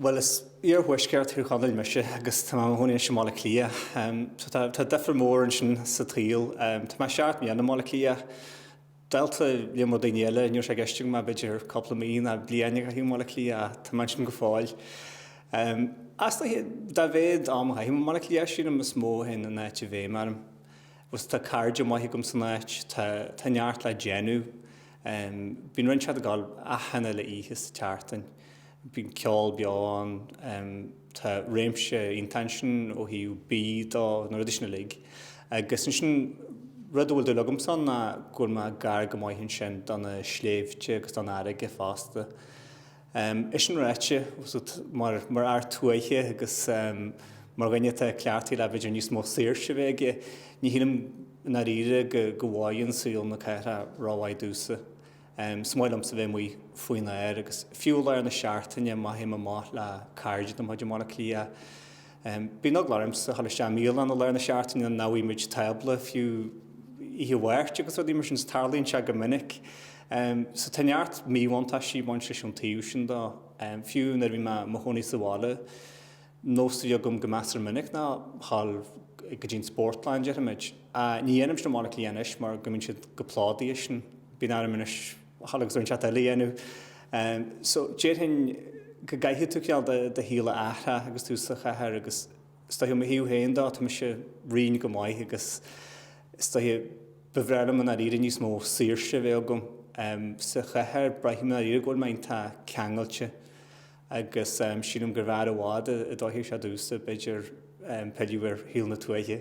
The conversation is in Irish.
Bhuel, as iarthuaisceart Thír Chonaill mise agus tá mé i mo chónaí anois i mBaile Átha Cliath. So tá difear mór ansin sa tsaol. Tá mé seacht mbliana i mBaile Átha Cliath. Dálta líon mór daoine eile, ní raibh sé i gceist agam ach b'fhéidir cúpla mí nó bliain a chaitheamh i mBaile Átha Cliath ach tá mé ansin go fóill. Is dóigh, dá mhéad am a chaithim i mBaile Átha Cliath sílim, is mó a théann an áit i bhfeidhm orm. Agus tá cairde maithe agam san áit, tá neart le déanamh. Bíonn rud inteacht ag dul achan uile oíche sa tseachtain. bíonn ceol beo ann, tá réimse iontach ansin ó thaobh bídh dó, na rudaí sin uilig. Agus ansin, rud a bhfuil dúil agamsa ann ná go bhfuil mé gar go maith ansin do na sléibhte agus don fharraige fosta. É sin ráite, mar fhear tuaithe agus mar dhuine atá cleachtaithe le b'fhéidir níos mó saoirse a bheith aige, ní shílim i ndáiríre go bhfóireann saol na cathrach rómhaith domhsa. Is maith liomsa bheith amuigh faoin aer agus fiú i lár na seachtaine má théim amach le cairde de mo chuid i mBaile Átha Cliath, bíonn eagla ormsa dhul isteach i mbialann i lár na seachtaine nach bhfaighidh muid tábla fiú oíche Mháirt agus rudaí mar sin, is tarlaíonn sé go minic. So tá neart míbhuntáistí ag baint leis an taobh sin dó, fiú nuair a bhí mé i mo chónaí sa bhaile. nós a bhí agam go measar minic ná dhul go dtí an Spórtlann, déarfaimid. Ní dhéanaim sin i mBaile Átha Cliath anois mar go mbíonn siad chomh plódaithe sin. Bíonn orm anois dhul agus rud inteacht eile a dhéanamh. So, déarfainn go gcaithfidh tú cineál do shaol a athrach agus tú sa chathair agus is dóigh, ó mo thaobh féin dó, tá mise righin go maith agus is dóigh, ba bhreá liom i ndáiríre níos mó saoirse a bheith agam. Sa chathair, braithim i ndáiríre go bhfuil mé iontach ceangailte. agus sílim gurbh fhearr i bhfad a d'fhóirfeadh sé domhsa, b'fhéidir, pilleadh ar shaol na tuaithe.